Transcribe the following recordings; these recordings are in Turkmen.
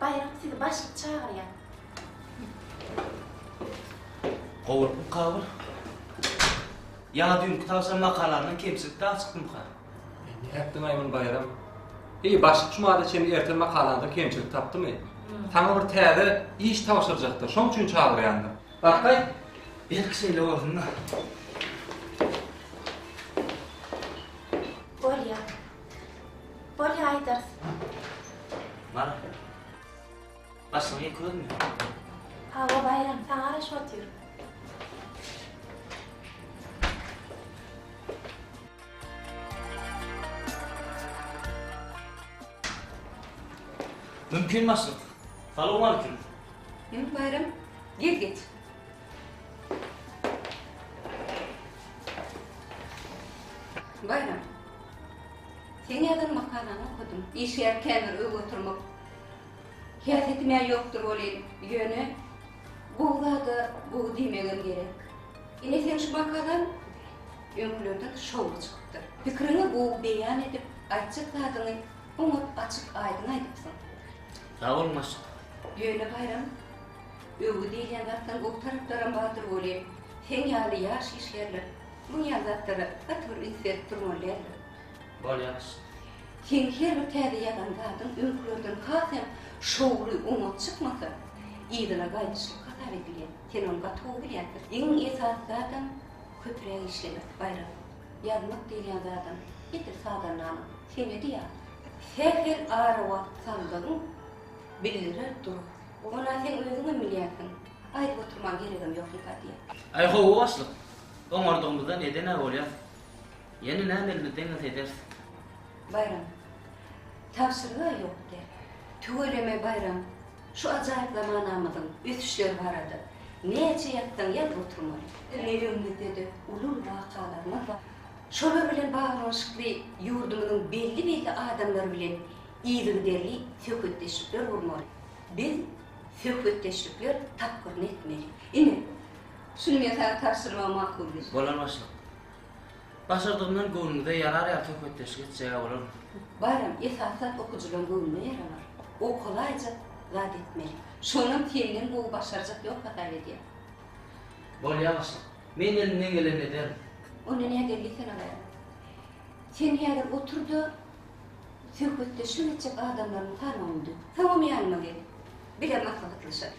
Baýram sizi başlyk çagyrýar. Gowulypmy Kabyl? Ýa düýnki tagşan makalamdan kemçilik dagy çykdymyka? Nätdiň Aýman Baýram? Eý, başlyk cumada çenli ertir makalaňda kemçilik tapdymy? Saňa bir täze iş tabşyrjakdyr, şoň üçin çagyrýandyr. Bakaý, belki şeýle bolsun-da. Bolýar. Bolýa aýdarys. Mara. Başyňy ýyk özümi. Hawa Baýram saňa garaşyp otyr. Mümkin başlyk. Salowmalikim. Indi Baýram gel geç. Baýram Seň ýazan makalaňy okadym. Işgär käbir öý oturmak häsiýetim-ä ýokdur welin, ýöne gowy zada gowy diýmegem gerek. Ine seň şu makalaň öňkülerden şowly çykypdyr. Pikiriňi gowy beýan edip, aýtjak zadyňy oňat açyk-aýdyň aýdypsyň. Sag bol Maşk. Ýöne Baýram, öwgi diýilýän zatlaryň gowy taraplaram bardyr welin, seň ýaly ýaş işgärler Muň ýaly zatlara gaty bir üns berip durmaly däldir. Bolýar. Seň her bir täze ýazan zadyň öňkülerden has hem şowly, oňat çykmasa, yzyna gaýdyşlyk hasap edilýär. Sen ony gaty gowy bilýärsiň. Iň esasy zadam köpräk işlemek, Baýram. Ýazmak diýilýän zadam edil sazandanyň senedi ýaly. Sähel ara wagt saldygyň bildirer dur. Ony-a seň özüňem bilýärsiň. Aýdyp oturmaga geregem ýok, Lekodýe. Aý, gowy başlyk. Oňardygymyzda neden-ä bolýas? Ýene näme elimiz deňese ederis. Baýram. Tabşyryg-a ýok däl. Tüweleme Baýram, şu ajaýyp zamanamyzyň ösüşleri barada näçe ýazsaň ýaz oturmaly. Ýüregimizde-de uly-uly wakalarymyz bar. Şolar bilen baglanyşykly ýurdumyzyň belli-belli adamlary bilen yzygiderli söhbetdeşlikler gurmaly. Biz söhbetdeşlikler tapgyryny etmeli. Ine, Şuny men saňa tabşyrmagy makul bildim. Bolar başlyk. Başardygymdan göwnüňize ýarar ýaly söhbetdeşlik etjeg-ä bolarmy? Baram, esasy zat okyjylaň göwnüne ýaralar. Okalaýjak zat etmeli. Şonam senden gowy başarjak ýok hasap edýän. Bolýar başlyk. Men elimden gelenini ederin. Onda nädip diýsene gaýra. Sen häzir otur-da, söhbetdeşlik etjek adamlaryňy sanawyňy düz. Soňam ýanyma gel. Bile maslahatlaşaly.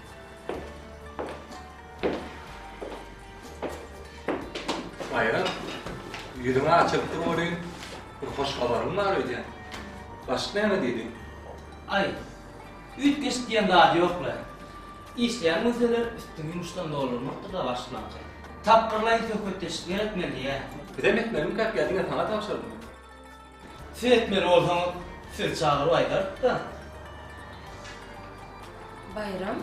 Aýra, ýüzüňi açyp dur welin, bir hoş habarym bar öýdýän. Başyk näme diýdi? Aý, üýtgeşik diýen zat ýok-la. Işleýän bolsalar, üstüňi ýumuşdan doldurmakdyr-da başyklanka. Tapgyrlaýyn söhbetdeşlikler etmeli diýýä. Bizem etmelimikä ýa diňe saňa tabşyrdym? Siz etmeli bolsaňyz, sizi çagyryp aýdarykda. Baýram,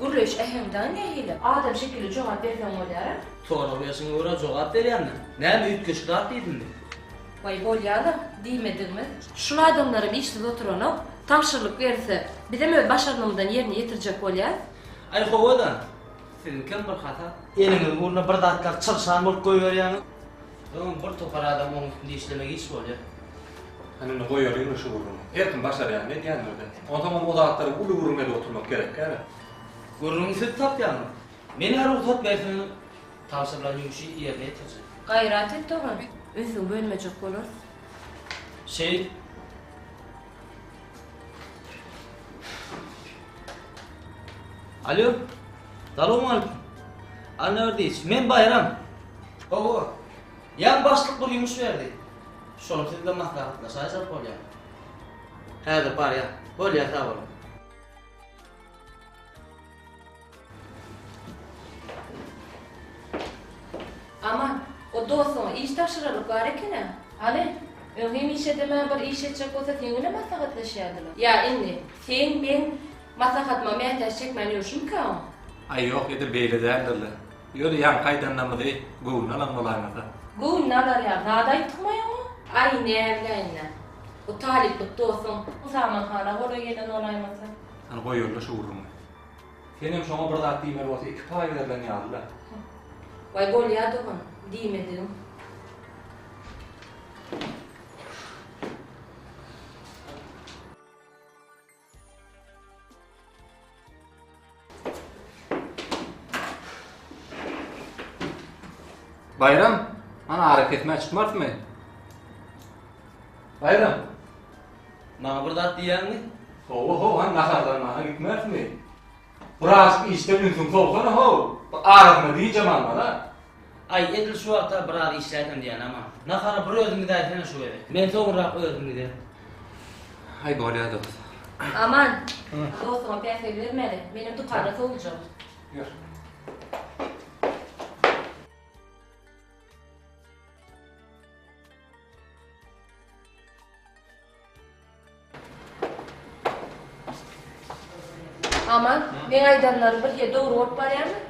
gürleýiş äheňi dagy nähili? Adam şekilli jogap berseň bolýara. Sorag berşiňe görä jogap berýändim. Näme üýtgeşikrak diýdimmi? Waý bolýa-la, diýmedigimiz. Şul adamlaram işsiz oturanok, tabşyrylyk berilse, bizem öz başarnymyzdan ýerine ýetirjek bolýas. Aý howa-da, siziňkem bir hata. Eliňiz burnuna bir zatlar çyrşan bolup goýberýäňiz. Soň bir topar adam oň üstünde işlemek iş bolýa. Hany indi goýalyň-la şu gürrüňi. Her kim başarýan edýändir-de. Onsoňam o zatlary uly gürrüň edip oturmak gerekkä-le. Gürrüňi siz tapýaňyz. Men-ä rugsat berseň tabşyrylan ýumşy ýerine ýetirjek. Gaýrat et dogan, ünsüňi bölmejek bolarys. Şeýt. Alo. Salam aleyküm. Anna diýiş. Men Baýram. Hawa. Ýan başlyk bir ýumuş berdi. Şony sizle maslahatlaşaýsak bolýar. Häzir barýar. Bolýar sag boluň. Aman, o dostuňa iş tabşyrarlyk bar eken-ä. Hany, öň hemişe edemän bir iş etjek bolsa seň bilen maslahatlaşýardylar. Ýa indi, seň meň maslahatyma mätäç çekmän ýörşümikä oň? Aý, ýok, edil beýle däldir-le. Ýöne ýaňky aýdanlarymyzy göwnüne alan bolaýmasa. Göwnüne alar ýaly zat aýtmaýaň-a? Aý, näbileýin-dä. Bu talyplyk dostuň Husaman hana golaý gelen bolaýmasa? Hany, goýaly-da şu gürrüňi. Senem şoňa bir zat diýmeli bolsa iki paý berlen ýaly-la. Waý bolýa dogan, diýmedigim. Baýram, hany arakesmä çykmarsymy? Baýram! Maňa bir zat diýýäňmi? Hawa-haw, hany naharlanmaga gitmezmi? Birazajyk işden ünsüňi sowsana-how! Bu arasyna dynjam alma-da! Aý, edil şu wagta biraz işläýsem diýýänä, maňa. Nahara bir özüň gidäýsene şu gezek. Men soňurak özüm giderin. Aý, bolýar, dost. Aman, dostuňa päsgel bermäli, menem dükanda sowuljak. Ýör. Aman, men aýdanlaryň bir ýer dogry bolup barýarmy?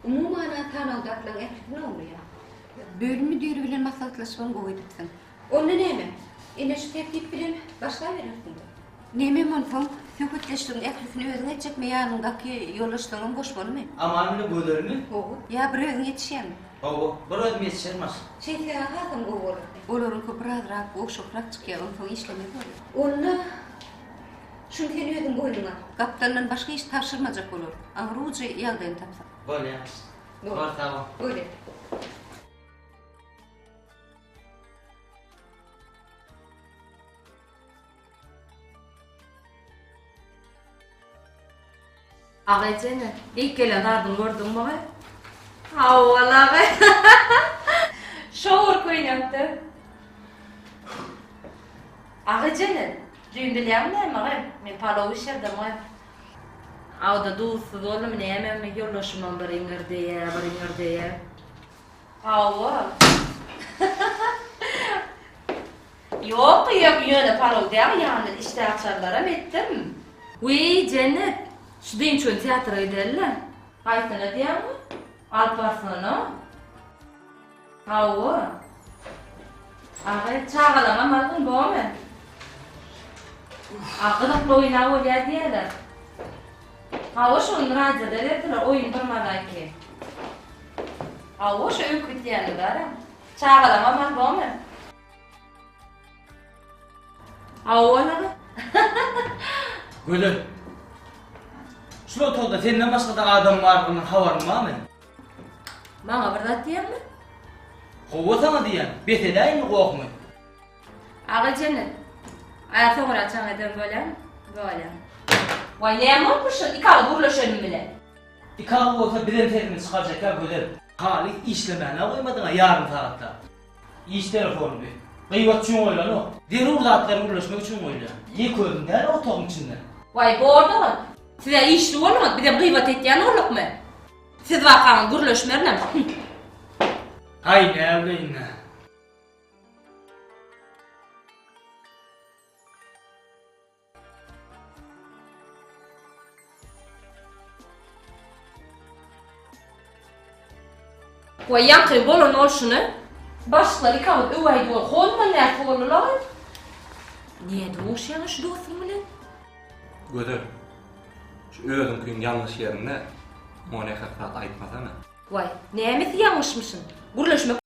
Umuman, sanawdakylaryň ählisini oglaýar. Bölüm müdiri bilen maslahatlaşyp hem gowy edipsiň. Onda näme? Ine şu tertip bilen başlaberersiň-de. Nämem onsoň, söhbetdeşligiň ählisini özüň etjekmi, ýanyňdaky ýoldaşlaryňam goşmalymy? Aman bilen Gözelmi? Hawa. Ýa bir özüň ýetişýäňmi? Hawa, bir özüm ýetişerin başlyk. Şeýtseň-ä hasam gowy bolar. Olaryňky birazrak gowşakrak çykýar, onsoň işlemez bolar. Onda şuny sen özüň boýnuňa al. Gapdaldan başga iş tabşyrmajak bolar. Aňryuçy ýagdaýyny tapsak. Bolýar. Bor, sag bol. Gözel. Aga ejeme ilk gelen zadyňy gördüňmi aga? Hawa-la aga. Şowur köýnekde. Aga ejeme, düýn bilýäňmi näme aga? Men palaw bişirdim aga. Awda duzsuz boldumy nämemi, ýoldaşymam bir iňirdeýä, bir iňirdeýä. Hawa. Ýok ýöne ýöne parol däl ýany işde açarlaram etdim. Wiý Jennet şu dynçony teatra giderle. Haýsyna diýýäňmi? Alparslana? Hawa. Aga çagalaňam algyn bomy? A gyzykly oýna bolýar diýýäler. Hawa şony radioda berdiler oýun bir mazaýki. Hawa, şo öňki gitýäni bara. Çagalaň aman bormy? Hawa, bolary. Gözel. Şul otagda senden başga-da adam bardygynyň habaryň barmy? Maňa bir zat diýýäňmi? Hawa, saňa diýýän. Bes edäýinmi gohuňy? Aga jene. Aýa soňra çaň ederin, bolýamy? Bolýar. Waý, näme bolupmyş şol iki agyz gürleşenim bilen? Ikabul bolsa bizem sesimizi çykarjakka gözel. Haly işlemänä goýmadyňa ýarym sagatlap. Iş telefony bi. Gybat üçin goýlanok. Zerur zatlary gürleşmek üçin goýulýar. Ýek özüň däl otagyň içinde. Waý bordyňyz. Sizä işli boluňyz bizem gybat etýän boldukmy. Siz wakaňyz gürleşmerinem hümm. Haý näwleýin-ä. Waý ýaňky bolan bolşuny. Başlar ikaňyz öwäý diýen hozman näçe boldular? Nä duşýaňa şu dostuň bilen? Gözel. Şu özüňkiň ýalňyş ýerinde muňa nähak zat aýtmasana. Waý, nämesi ýalňyşmyşyn? Gürleşmek.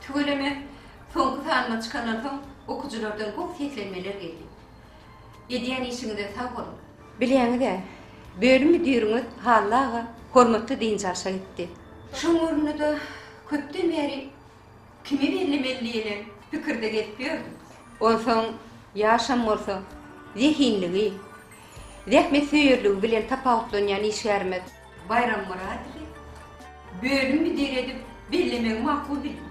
Tüweleme, soňky sanyma çykandan soň okyjylardan gowy seslenmeler geldi. Edýän işiňize sag boluň! Bilýäňiz-ä, bölüm müdiriňiz Hally aga hormatly dynç alşa gitdi. Şoň ornuna-da köpden bäri Kimi bellemeli diýenem pikirde gezip ýördüm. Onsoň ýaşam bolsa, zehinligi, zähmetsöýerligi bilen tapawutlanýan işgärimiz. Baýram Myradowy bölüm müdiri edip bellemegi makul bildim.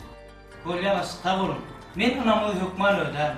Bolýa-la, sag boluň. Men ynamyňyzy hökman ödärin.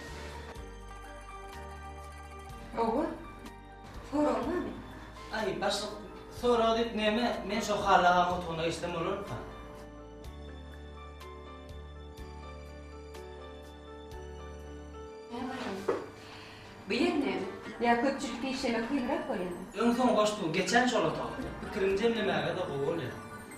Oba, sorag näme? Aý, başlyk, sorag diýip näme, men şo Hally agaň otagyna geçsem bolarmyka? Bu ýer näme? Ýa köpçülikde işlemek kynrak bolýamy? Öň-soň goşduň, geçen şol otaga. Pikiriňi jemlemäge-de gowy bolýar.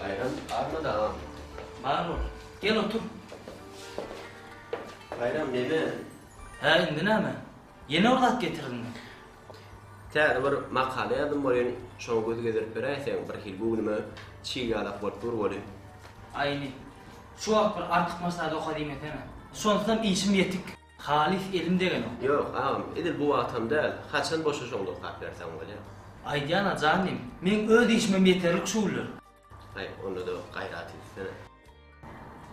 Baýram barmy dagam? Bar bol. Gel otur. Baýram neme? Hä, indi näme? Ýene bir zat getirdiňmi? Täze bir makala ýazdym welin, şoňa göz gezdirip beräýseň, birhili göwnüme çig ýalak bolup dur welin. Aý indi, şu wagt bir artykmaçlary oka diýmesene. Şonsam işim ýetik. Halys elim degenok. Ýok, agam, edil bu wagtam däl, haçan boşaşaňda okap berseň bolýar. Aýdýan-a, jan diýim, meň öz işimem ýeterlik şu günler. Aý, onda-da gaýrat etsene.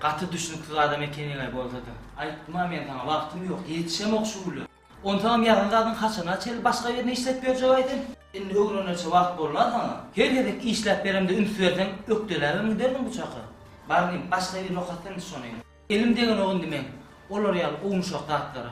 Gaty düşnüksiz adam ekeniň-aý bolsa-da. Aýtdym-a men saňa, wagtym ýok, ýetişemok şu günler. Onsaňam ýazan zadyň haçana çenli başga birine işläp berjek aýdym? Indi öwrenençe wagt bolna saňa. Her gezek işläp beremde üns berseň ökdeläbem giderdiň bu çaka. Bar indi başga birine okatsa indi şony. Elim degenok indi meň olar ýaly ownuşak zatlara.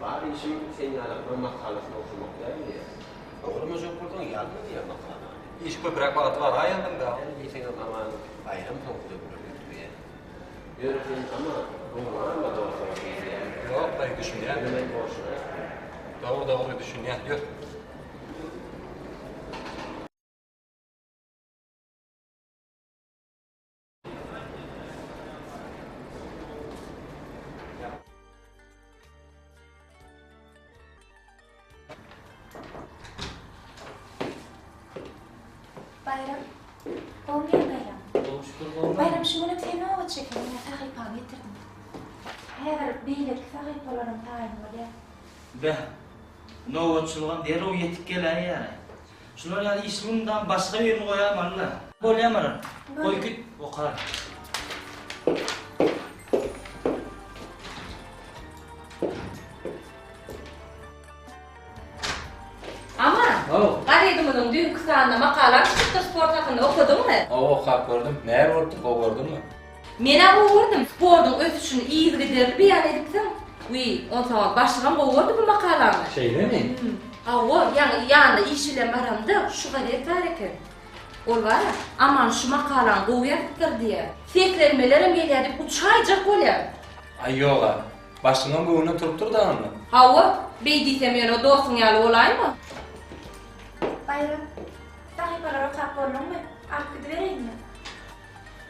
Bar işim sen ýaly bir makalasyny okamak däl diýýär. Oglamaýjak bolsaň ýazma diýýär makalany. Iş köpräk wagty bar aý ýandan da. Ýöne diýseňem aman baýram soň size gürrüň getirýän. Ýöne sen aman göwnüňi alma dostuma diýilýär. Ýok daýy düşünýän. Ýöne men bolşuna etmän. Dogry dogry düşünýän ýör. Bayram. Gowmy Bayram? Gowy şükür gowmy? Bayram şu güni sen owa çeken ýa sahypany getirdim. Häzir beýleki sahypalaryň taýyny bolýar. Beh. Nobatçylygam derrew ýetip geläýýär. Şular ýaly işi mundan başga birini goýaýma Alla. Bolýa Maral. Goý git oka. Aman. Haw. Gazetimiziň düýnki sanynda makalaň çykdyr sport hakynda okadyňmy? Haw okap gördüm. Näme bolupdyr gowy gördüňmi? Men-ä gowurdym. Sportuň ösüşini yzygiderli beýan edipsiň. Wiý, onsoňam başygam gowurdy bu makalaňy. Şeýlemi? Hüm. Hawa, ýaňy ýanyna iş bilen baramda, şu gazet bar eken. Ol bar-a, Aman şu makalany gowy ýazypdyr diýýär. Seslenmelerem gelýär diýip uçaýjak bolýan. Aý, ýog-a. Başyňam göwnüne turup dur dagy onda. Hawa, beý diýsem ýöne dostuň ýaly bolaýma. Baýram, sahypalary okap bolduňmy? Alyp gidibereýinmi?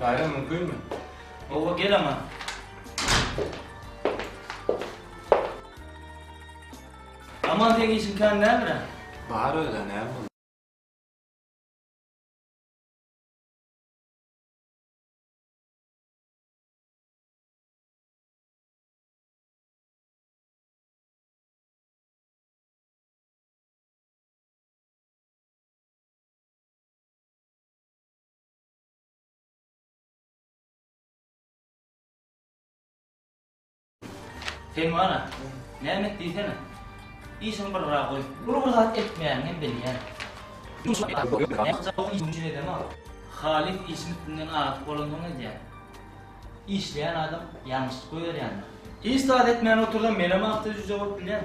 Baýram mümkinmi? Gowa gel aňa. Aman seň işiň kan näme? Bar öyle näme oldu? Sen bana, näme et diýsene. Işiň bir gara goý. Ol bir zat etmeýäni hem bilýän. Halyp işiň üstünden agyp bolansoň edýän. Işleýän adam ýalňyşlyk goýberýändir. Hiç zat etmän otursam menem agta jüje bolup bilýän.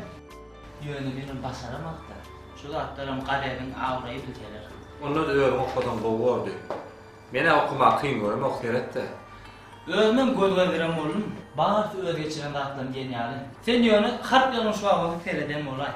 Ýöne bilim başaramak-da. Şu zatlaram gazediň abraýy bilseler. Ondan özüň okasaň gowy boldy. Men-ä okamagy kyn göremok, seret-de. Özümem göz gezdiren boldum. Barysy öz geçiren zatlaryny diýen ýaly. Sen ýöne harp ýazgyň şu awaza sereden bolaý.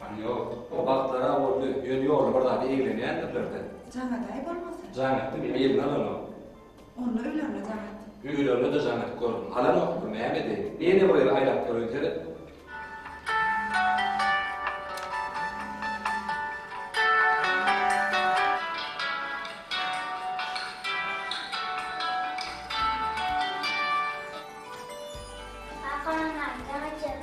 Gany ýok. O wagtlar-a boldy. Ýöne ýolda bir zada eglenýändirler-dä. Jaňadaý bolmasa? Jaňat diňe eline alanok. Onda ölerine jaňat. Ölerine-de jaňat gördüm. Alanokmy, näme edeýin? Näme bolýar aýlap göreýin seret. Kaka, maňa jaňat ýaz.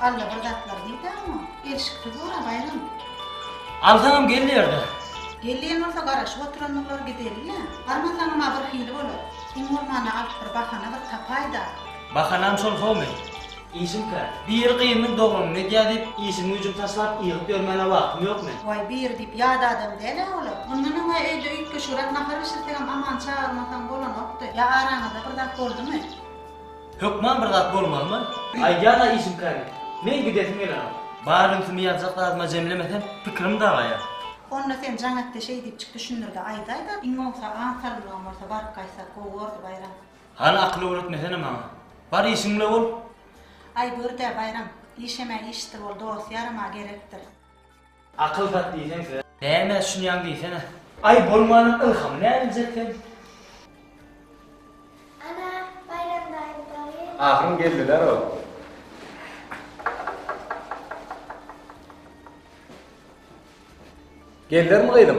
Alla bir zatlar diýdäňo? Gelşiksiz bor-a, Baýram. Alsaňam gel ýerde. Gel diýen bolsa garaşyp oturan bolar gideli-le. Barmasaňam-a bir hili bolar. Iň bolmanda alyp bir bahana bir tapaý-da. Bahanam şol howmy? Işim kän. Biri gyzynyň doganyny edýä diýip, işim-güýjüm taşlap, ýygyp ýörmäne wagtym ýokmy? Waý, biri diýip ýat adam däl-ä olar. Mundan öň-ä öýde üýtgeşigräk nahar bişirsegem Amany çagyrmasaň bolanokdy. Ýa araňyzda bir zat boldumy? Hökman bir zat bolmalymy? Aýdýan-a işimkäni. Meň gidesim gelenok. Bar ünsümi ýazjak zadyma jemlemesem, pikirim dagaýar. Onda sen Janatde şeý diýip çyk düşündir-de aýdaý-da, iň bolmasa aň salymlaň bolsa baryp gaýtsak gowy bordy, Baýram. Hany akyl öwretmesene maňa. Bar işiň bile bol. Aý, gör-dä, Baýram. Işemä işdir bol, dost-ýaram-a gerekdir. Akyl zat diýseň size. Näme düşünýäň diýsene. Aý bolmanyň ylhamy näbiljek sen. Ana Baýram daýy daýy. Ahyryn geldiler o. Geldilermi gyzym.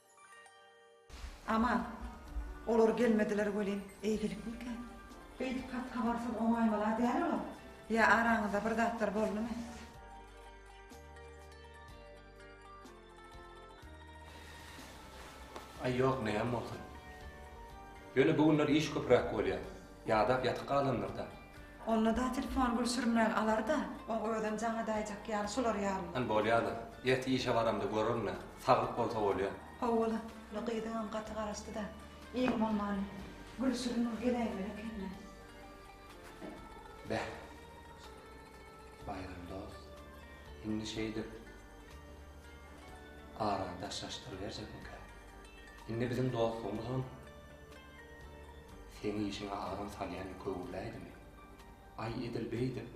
Aman, olar gelmediler welin, eýgilikmikä? Beýdip hat habarsyz oňaýmalar däl olar. Ýa araňyzda bir zatlar boldumy? Aý ýok näme bolsun. Ýöne bu günler iş köpräk bolýar. Ýadap ýatyp galandyr-da. Onda-da telefon gül sürmän alar-da, oň özem jaňy daýjak ýaly şolar ýaly. Ýan bolýa-da. Ertir işe baramda görerin-ä. Saglyk bolsa bolýa. Hawa-la, bu gyzyňam gaty garaşdy-da. Iň bolmany, gül sürüniň geläýmeli ekeni. Beh. Baýram dost, indi şeýdip, arany daşlaşdyryberjekmikä? Indi biziň dostlugymyzam. Seň işiňe adam salýan köwürläýdimi? Aý, edil beýdip,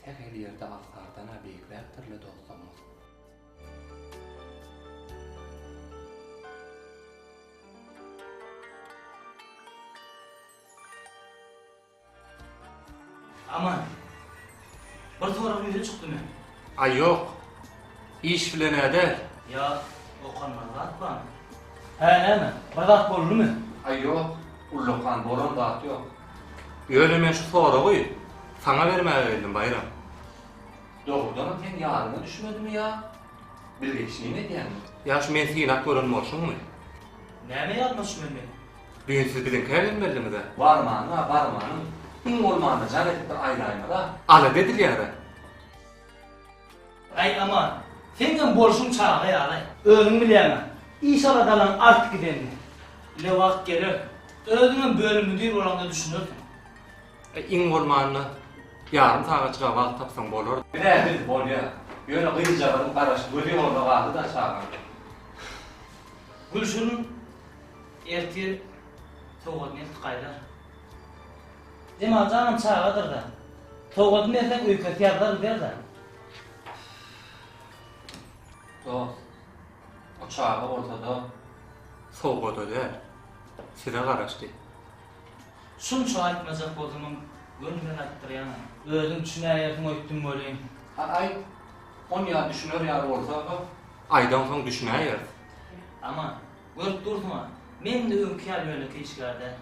sähel ýerde agtardan-a beýikräkdir-le dostlarymyz. Aman. Bir soragym ýüze çykdy men. Aý ýok. Iş bilen-ä däl. Ýa okanmaly zat barmy? Hä näme? Bir zat boldumy? Aý ýok, ullakan bolan zat ýok. Ýöne men şu soragy saňa bermäge geldim, Baýram. Dogrudanam seň ýadyňa düşmedimi ýa bilgeşleýin edýäňmi? Ýa şu men synap gören bolşuňmy? Näme ýadyma düşmeli meniň? Bu gün siz biziňkä gelmelidimiz-ä? Barmanyň-a, barmanyň. Iň bolmanda jan edip bir aýlaýmyz-a. Alada edilýär-ä. Äý, Aman, seňňem bolşuň çaga ýaly. Özüň bilýäň-ä, iş aladalaň artyp gidenini. Ile wagt geler, özüňem bölüm müdir bolaňda düşünersiň. Äý, iň bolmanda, ýarym sagatjyk-a wagt tapsaň bolar. Biz-ä biz, bolýar. Ýöne gyzjagazyň garaşy, gözi ýolda galdy-da çagaň. Gülşirin Ertir sowgat nesip gaýdar. Jemal janam çagadyr-da. Sowgady berseň öýkesi ýazlar gider-de. Dost, o çaga bolsa-da sowgada däl, size garaşdy. Şunça aýtmajak bolsamam, göwnümden aýtdyrýan-a. Özüň düşünäýersiň öýtdüm welin. Hany aýt, on ýa düşüner ýaly bolsa-ha. Aýdansoň düşünäýeris. Aman, Görüp dursuň-a, meň-de öňki ýaly ýönekeý işgär däl.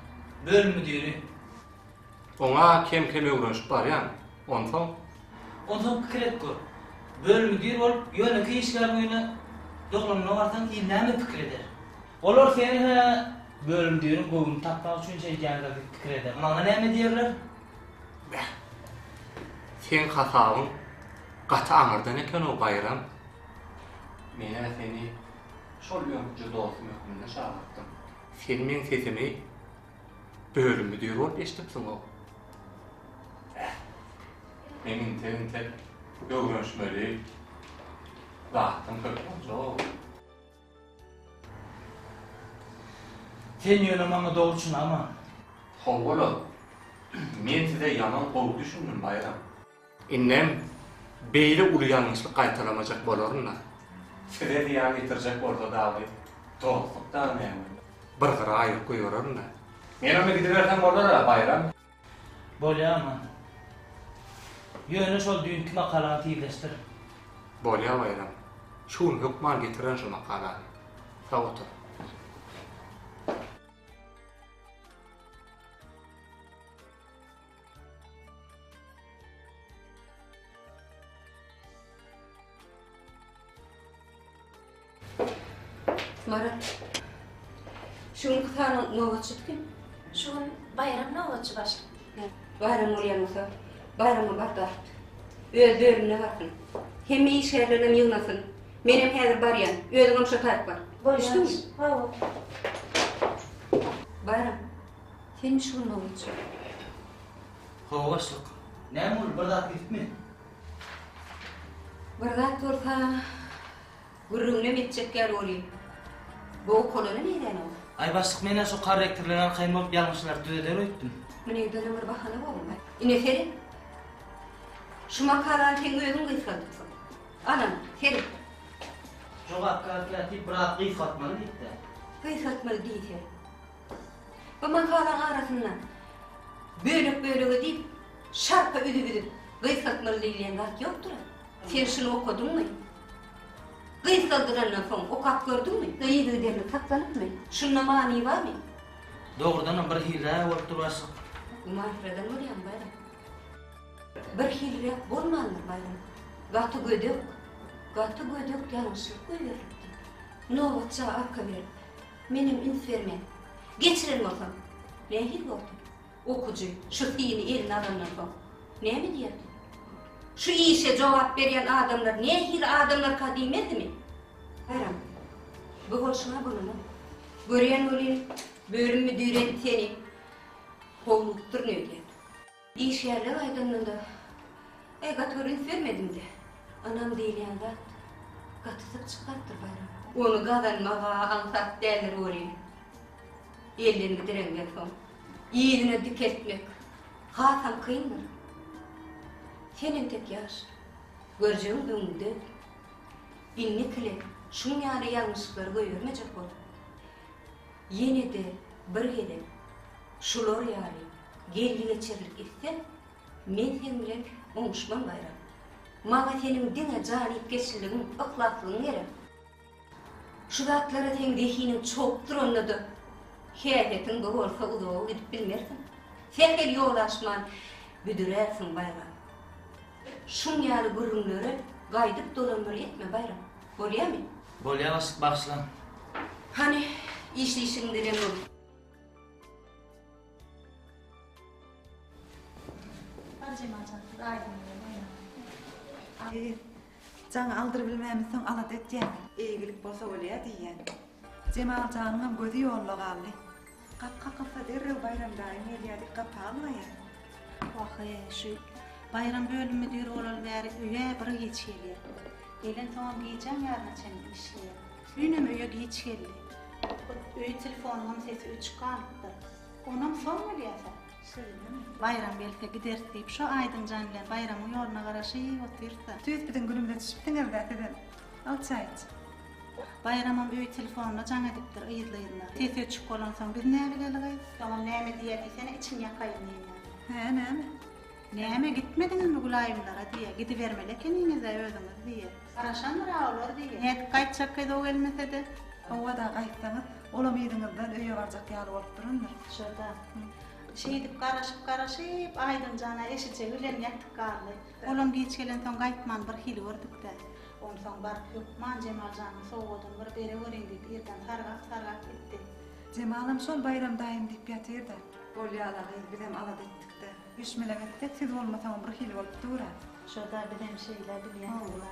Bölüm müdiri. Oňa kem-kem öwrenişip barýan. Onsoň? Onsoň pikir et gör. Bölüm müdiri bolup, ýönekeý işgäriň öýüne doganymyna barsaň, il näme pikir eder? Olar seni-hä bölüm müdiriň göwnüni tapmak üçin çekýändir diýip pikir eder. Maňa näme diýerler? Beh. Seň hasabyň gaty aňyrdan eken-ow, Baýram. Men-ä seni Şol öňküje dostum hökmünde çagyrtdym. Sen meň sesimi bölüm müdiri bolup eşidipsiň-ow. Heh. Men intek-intek öwrenişmeli zatym köp boljak-ow. Sen ýöne maňa dogry çyn aman. Hawa-la. Men size ýaman gowy düşündim, Baýram. Indem beýle uly ýalňyşlyk gaýtalamajak bolaryn-da. Size zyýan ýetirjek bolsa dagy dostluk da näme? Bir gyra aýryp goýbererm-dä. Men onda gidibersem bolar-a, Baýram? Bolýar, man. Ýöne şol düýnki makalany tizleşdir. Bolýar, Baýram. Şu gün hökman getirerin şo makalany. Sag otur. Marat, şu gün kısaryň nobatçy kim? Şu gün bayram nobatçy başlyk. Bayram bolýan bolsa, bayrama bardak. Öz bölümine barsyn. Hemme işgärler hem ýygnasyn. Men hem häzir barýan. Özüňem şo taýyp bar. Bolýar. Düşdüňmi? Hawa. Bayram, Sen şul mawy üçin. Hawa başlyk. Näme boldy bir zat gitipmi? Bir zat bolsa gürrüňinem etjek ýaly bolyp. Bow kolony neýdäýen ow? Aý başlyk menä şu korrektorlaryň arkaýyn bolup ýalňyşlary düzeder öýtdüm. Muny düzene bir bahana bolma. Ine seret. Şu makalany seň özüň gysgaldypsyň. Anan seret. Jogapkär kätip biraz gysgaltmaly diýipdä. Gysgaltmaly diýse. Bu makalaň arasynda bölek-bölege diýip, şarpa üzüp-üzüp gysgaltmaly diýilýän zat ýokdur-a. Sen şuny okadyňmy? Gysgaldylandan soň okap gördüňmi? Yzygiderli saklanypmy? Şunda many barmy? Dogrudanam bir hilrä bolup dur başlyk. Gümansyradan bolýaň, Baýram. Bir hilräk bolmandyr, Baýram. Gaty gödek, gaty gödek ýalňyşlyk goýberilipdir. Nobatça arka berip. Menem üns bermän, geçiren bolsam, nähili bordy? Okyjy şu syny eline alandan soň, näme diýerdi? Şu işe jogap berýän adamlar nähili adamlarka diýmezdi-mi? Haýran. Bu bolşuňa gülüne. Görýän welin, bölüm müdiri seni kowlupdyr, nädýär? Işgärler aýdanda-da, Eý, gaty bir üns bermedim-dä. Ynam diýilýän zat gaty syk çykýapdyr Baýramda. Ony gazanmaga aňsat däldir welin, elden gidirenden soň, yzyna dikeltmek hasam kyndyr. Sen entek ýaş, görjegiň öňüňde. Innekile şuň ýaly ýalňyşyklary goýbermejek bol. Ýene-de bir gezek şular ýaly geldi-geçerlik etseň, men sen bilen oňuşman gaýram. Maňa seniň diňe janypkeşligiň, yhlaslygyň gerek. Şu zatlara seň zehiniň çogup duranda-da, häsiýetiň bu bolsa uzaga gidip bilmersiň. Sähel ýol aşman büdürärsiň, Baýram. Şuň ýaly gürrüňlere gaýdyp dolandyr etme, Baýram. Bolýamy? Bolýar başlyk bagyşlaň. Hany işleýşiň bilen bol. Hadi Jemal jan siz aýdyň bilen oýnaň. Eý, jaň aldyr bilmämisoň alada etýäňmi? Eýgilik bolsa bolýa diýýän. Jemal janyňam gözi ýolda galdy. Gap kakylsa derrew Baýram daýym gelýärdi, gapy almaýar. Wah-eý, şu Baýram bölümi düýr bolaly bäri öýe bir giç gelýär. Gelensoňam gijäň ýaryna çenli işleýär. Düýnem öýe giç geldi. Hut öý telefonynyňam sesi öçük galypdyr. Onam soň bilýärsiň. Şeýlemi? Baýram gelse gideris diýip, şo aýdyň jan bilen Baýramyň ýoluna garaşyp otyrys-da. Tüýs biziň günümizde düşüpdiňiz-dä sizem. Al çaý iç. Baýramam öý telefonynda jaň edipdir yzly-yzyna. Ses öçük bolansoň biz näbilelik eý? Soňam näme diýýä diýsene, içiň ýakaýyn diýýä. Hä, näme? Näme, gitmediňizmi Gülaýymlara diýýä. Gidibermeli ekeniňiz-ä özüňiz diýýä. Garaşandyr-a olar diýýä. Nädip gaýtjakkaýyz o gelmese-de? Hawa-da, gaýtsaňyz, olam yzyňyzdan öýe barjak ýaly bolup durandyr. Şurda. Şeýdip garaşyp-garaşyp, Aýdym jan-a eşije bilen ýatyp galdy. Olam geç gelensoň gaýtman bir hili gördük-dä. Onsoň baryp hökman Jemal janyň sowgadyny bir bere göreýin diýip irden sargap-sargap gitdi. Jemalam şol Baýram daýym diýip ýatyr-da. Bolýa-la gyz, bizem alada etdik-dä. Üç-mülek etsek, siz bolmasaňam bir hili bolup dur-a. Şo-da bizem şeýle, bilýäňiz-le.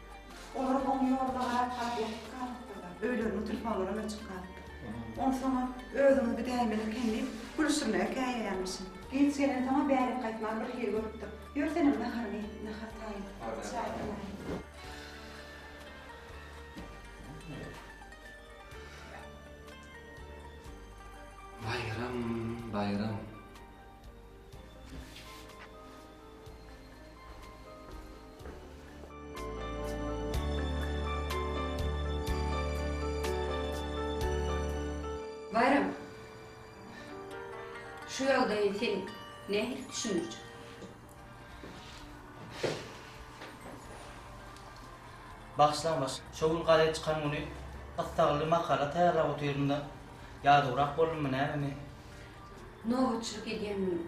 Olar oň ýolda gaýyp galyp ýatyp galypdyrlar. Öýleriniň telefonlaram öçüp galypdyr. Onsoňam özüňi gidäýmeli eken diýip, gülüşdirmegi käýýärmişin. Giç gelensoňam bärek gaýtmany bir hili görüpdir. Ýör senem naharyňy iý, nahar taýyn, çaý galaýyn. Baýram, baýram. Baýram, şu ýagdaýy sen nähili düşündirjek? Bagyşlaň baş, şo gün gazet çykan güni gyssagly makala taýýarlap otyryn-da, ýadawrak boldummy nämemi? Nobatçylyk edýändigiň,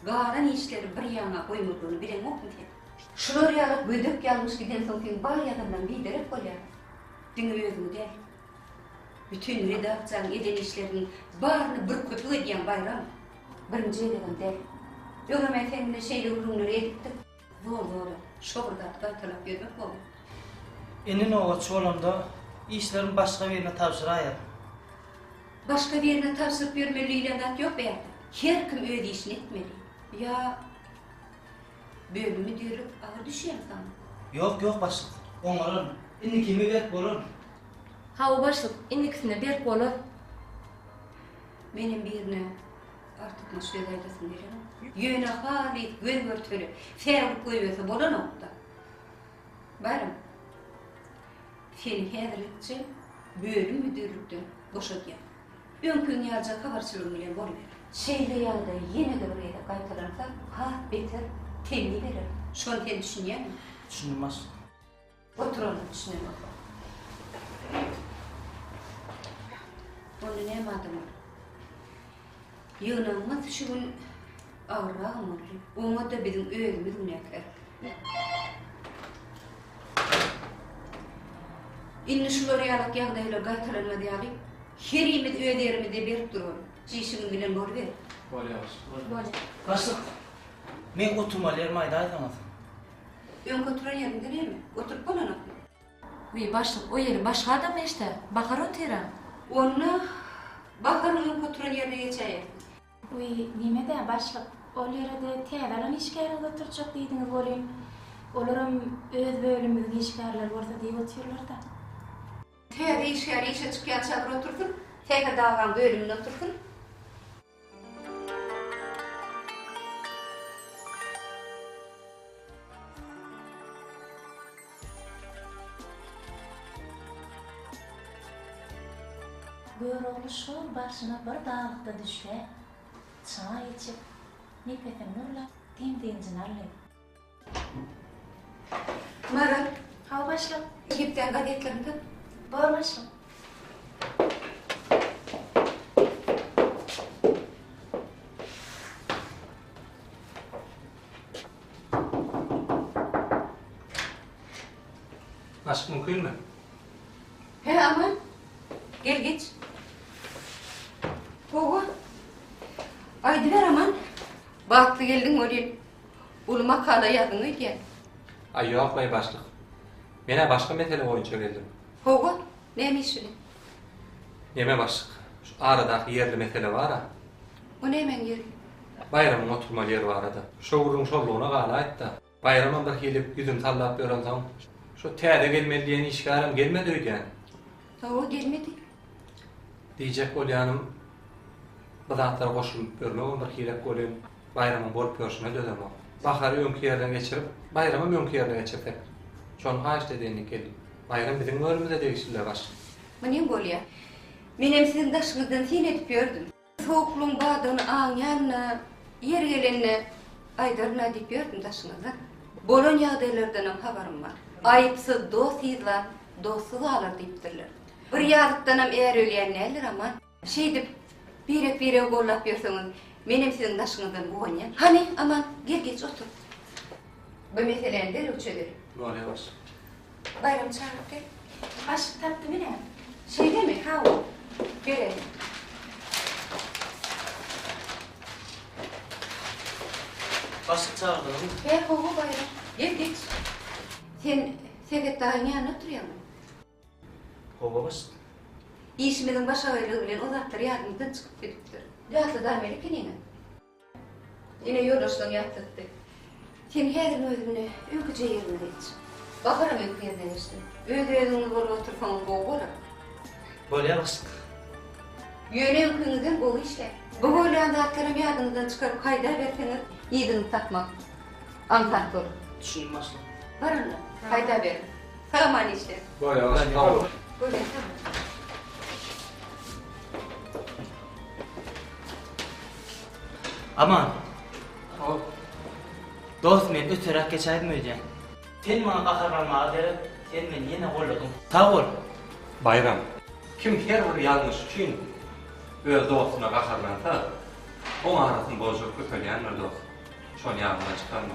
galan işleri bir ýana goýmadygyny bileňokmy sen? Şular ýaly gödek ýalňyş gidensoň seň bar ýazanlaň biderek bolýar. Diňe özüňi däl. Bütin redaksiýanyň eden işleriniň baryny bir köpük edýäň Baýram. Birinji gezegem däl. Öňem-ä seň bilen şeýle gürrüňleri edipdik. Zor zor şo bir zat gaytalap ýörmek boldy. Indi nobatçy bolamda işlerimi başga birine tabşyraýaryn. Başga birine tabşyryp ýörmeli diýilen zat ýok beýärde. Her kim öz işini etmeli. Ýa bölüm müdirlik agyr düşýärmi saňa? Ýok, ýok başlyk. Oňararyn. Indi kime berk bolaryn? Hawa başlyk, indikisine berk bolaryn. Menem birine. Artykmaç gözellesini berenok. Ýöne halys göý-görtele, säwlik goýberse bolanok-da. Baryň, seni häzirlikçe bölüm müdirlikden boşadýan. Öňkiň ýalyja habarçylygyň bilen boluber. Şeýle ýagdaý ýene-de bir gezek gaýtalansa, has beter temmi bererin. Şony sen düşünýäňmi? Düşündim, başlyk. Oturan içine bakan. Onda näme adam bar? Ýygnanmaz şu gün agyrrak boldy. Oňa da biziň özümiz günäkär. Indi şular ýaly ýagdaýlar gaýtalanmaz ýaly herimiz öz ýerimizde berip durun. Çişiňiz bilen bolýar. Bolýar. Bolýar. Başlyk. Men oturmaly ýerimi aýdaýsaňyz. Öňki oturan ýeriňde neme? Oturyp bolanokmy? Wiý, başlyk, o ýeri başga adam neştä? Bahar otyram. Onda, Baharyň öňki oturan ýerine geçäýersiň. Wiý, neme-dä, başlyk, ol ýere-de täze alan işgäriňizi oturtjak diýdiňiz welin, olaram öz bölümimiziň işgärleri bolsa diýip otyrlar-da. Täze işgär işe çykýança bir otursyn, Sähedagaň bölüminde otursyn. Görogly şol başyna bir dagykda düşläp, çaý içip, nepesini nurlap, dem-dynjyny aldy. Maral, Hawa başlyk. Egipdäň gazetlerini tut. Bor başlyk. Başlyk mümkinmi? He Aman. Gel geç. Gowy. Aýdyber Aman. Bagtly geldiň welin Uly makala ýazdyň öýdýän. Aý ýok beý başlyk. Men-ä başga mesele boýunça geldim. Hawa, näme iş bilen? Neme başlyk. Şu aradaky ýerli mesele bar-a. O nämäň ýeri? Baýramyň oturmaly ýeri barada. Şo gürrüň şollugyna galaýyp-da. Baýramam bir hili ýüzüni sallap ýörensoň, şo täze gelmeli diýen işgärem gelmedi öýdýän. Hawa, gelmedi. Diýjek bolýanym, bir zatlara goşulyp ýörmegem bir hirek welin, Baýramyň bolup ýörşüne dözemok. Bahary öňki ýerde geçirip, baýramam öňki ýerde geçirsek. Şony haýyşt edýän ekenim. Baýram biziň göwnümize degişli-le baş. Muny bolýa. Menem siziň daşyňyzdan syn edip ýördüm. Sowuklygyň bardygyny aňýan-da, ýeri gelende aýdaryn-a diýip ýördüm daşyňyzdan. Bolan ýagdaýlardanam habarym bar. Aýypsyz dost yzlap, dostsuz galar diýipdirler. Bir ýazykdanam är ölýän däldir, Aman. Şeýdip, birek-biregi gollap ýörseňiz, menem siziň daşyňyzdan guwanýan. Hany, Aman, gel geç otur. Bu meseläni derrew çözelim. Bolýa, goşy. Baýramy çagyryp gel. Aşyk tapdym ine. Şeýlemi? Hawa. Berelim. Aşyk çagyrdyňyzmy? He, hawa, Baýram. Gel geç. Sen Sebet daýyň ýanynda oturýaňmy? Howa başga. Işimiziň başagyrlygy bilen o zatlar ýadymyzdan çykyp gidipdir. Ýatladamyl ikiniňem. Ine, ýoldaşlaň ýatlatdy. Sen häziriň özünde öýküje ýerine geç. Baharam öýki ýerine geçdi. Öz-özüňiz bolup otursaňyz gowy bolar. Bolýar başlyk. Ýöne öňküňizden gowy işläň. Bu bolýan zatlaram ýadyňyzdan çykaryp haýdaberseňiz yzyňyzy tapmak aňsat bolar. Düşündim başlyk. Baranda, haýdaberiň. Salamane işler. Bayağı sağ ol. Görmek sağ ol. Aman. Hop. Dost men öterak geçaydım öýden. Sen bana gaharlanmaga gerek, sen meni yine golladyň. Sağ ol. Bayram. Kim her bir ýalňyş üçin öz dostuna gaharlansa, oň arasyny bozjak köpelýändir dost. Şony ýadyňdan çykarma.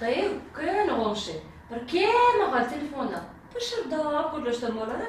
Daýy, köne goňşy. Bir kemahal telefonda pyşyrdap gürleşsem bolar-a?